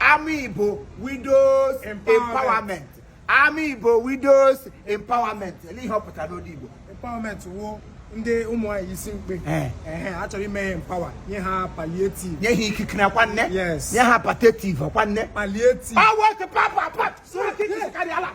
Ama Igbo Widows Empowerment Ama Igbo Widows Empowerment ele ihe ọ pụtara n'olu Igbo empowerment wụ ndị ụmụ nwaanyị isi mkpe Eh. ehe a chọrọ ime ha empower nye ha palliative nye ha ikike na kwanne Yes. nye ha patative kwanne palliative Power to papa, papa. Sorry, kick this carry Allah.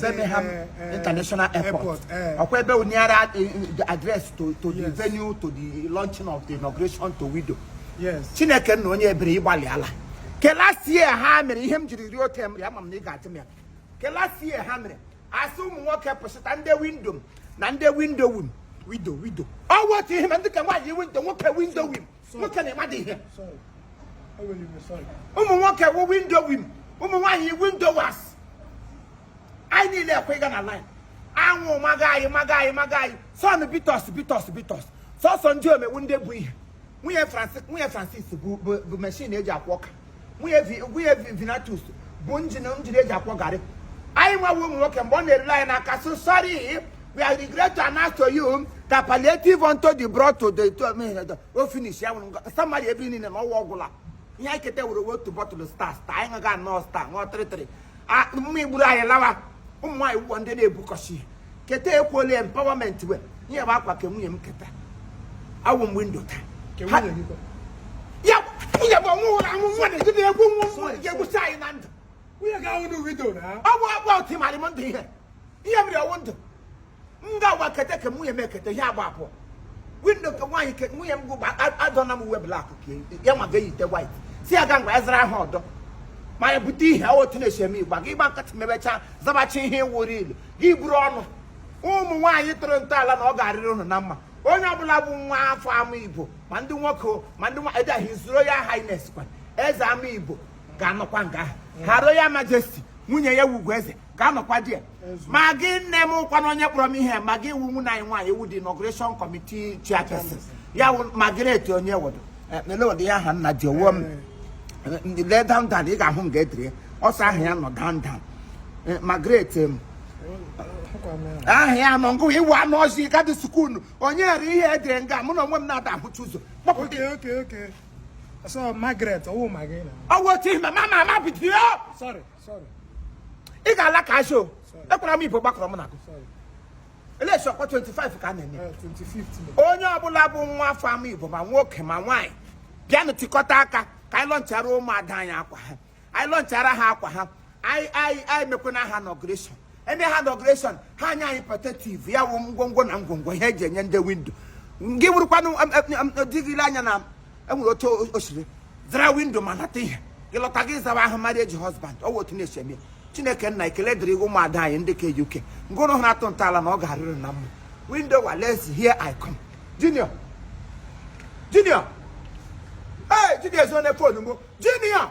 Birmingham eh, eh, International Airport. Eh. Ọ kwa ebe onyara the address to to the venue to the launching of the inauguration to widow. Yes. Chineke nna onye ebere ị gbalịala. Ke last year ha mere ihe m jiri rie tem ya ma m na ị ga-atị m ya. Ke last year ha mere a sị ụmụ nwoke pụsịta ndị windo m na ndị windo wim. Wido wido. Ọ wọtụ ihe ma ndị ka nwaanyị windo nwoke windo wim. nwoke na-ema dị ihe ụmụ nwoke wụ windo wim ụmụ nwaanyị windo was anyị niile ekwe ịga na line anwụ maga anyị maga anyị maga anyị sun beat us beat us beat us sọsọ ndị ọ ma wụ ndị bu ihe nwunye Francis bu machine eji akwọ ọka nwunye Vinatus bu njin njin eji akwọ garị anyị nwa wụ ụmụ nwoke mgbe ọ na-erule anyị n'aka so sorry we are regret to announce to you that palliative unto the brought to the to me the o finish ya nwụrụ somebody ebe niile na ọ wụ ọ gwụla ihe anyị keta wụrụ otu bottle star star anyị ga-aṅụ star ṅụọ tịrịtịrị mmaị gburu anyị lawa ụmụ nwaanyị wụ ndị na-ebukọsi ihe keta ekwuola empowerment we ihe bụ akwa ke nwunye m keta awụ m windo taa ya nwunye bụ ọnwụ ụlọ amụ nwa na-eji na-egwu nwa ga-egbusi anyị na ndụ ọ bụ akwa otu ịmarị m ndụ ihe ihe mere ọ wụ ndụ m ga-agwa kete ka nwunye m ekete ihe agba abụọ windo nke nwaanyị ke nwunye m gụ adọna m uwe black ya ma ga-eyite white si ya ga ngwa ezra ahụ ọdọ ma ya bute ihe otu na-esi eme igba gị gba nkịtị mebechaa zabacha ihe wụrụ ilu gị buru ọnụ ụmụ nwaanyị tọrọ ntọala na ọ ga-arịrị ụnụ na mma onye ọbụla bụ nwa afọ ama igbo ma ndị nwoke ma ndị nwaanyị the his royal highness kwa eze ama igbo ga-anọkwa nga ahụ her royal majesty nwunye ya wụ ugoeze ga-anọkwa there Maggi nne m kwanụ onye kpọrọ m ihe Maggi ị wụ nwunye anyị nwaanyị ị wụ the inauguration committee chairperson ya wụ Margaret onye wodo mele ụdị ya aha nna ji owo m lee down down ị ga-ahụ nga edere ya ọsọ aha ya nọ down down Eh, Margaret em, aha ya nọ nga ahụ ị wụ anụ ọzọ gadị sukulu onye ghara ihe edere nga mụ na onwe m na-ada ahụcha ụzọ kpọpụ okay okay okay so Margaret ọ wụ Maggi na ọ wụ otu ihe ma ma ma ma bido sorry ị ga-ala ka asho ekwara m ibo gbakọrọ m na election ọkwa 25 ka a na-eme eh, onye ọbụla bụ nwa afọ ama igbo ma nwoke ma nwaanyị bịanụ tikọta aka ka anyị lọnchara ụmụada anyị akwa ha anyị lọnchara ha akwa ha anyị anyị anyị mekwana ha inauguration eme ha inauguration ha enye anyị palliative ya wụ ngwongwo na ngwongwo ihe eji enye ndị widow gị wụrụkwanụ di gị lee anya na enwere otu osiri zara widow ma nata ihe gị lọta gị zawa aha marriage husband ọ wụ otu na-esi eme chineke nna ekele dịrị gị ụmụada anyị ndị ke uk nguru ha na-atọ ntọala na ọ ga-arịrị na mma widow wa let's hear i come junior junior ee junior ezo na phone mụ junior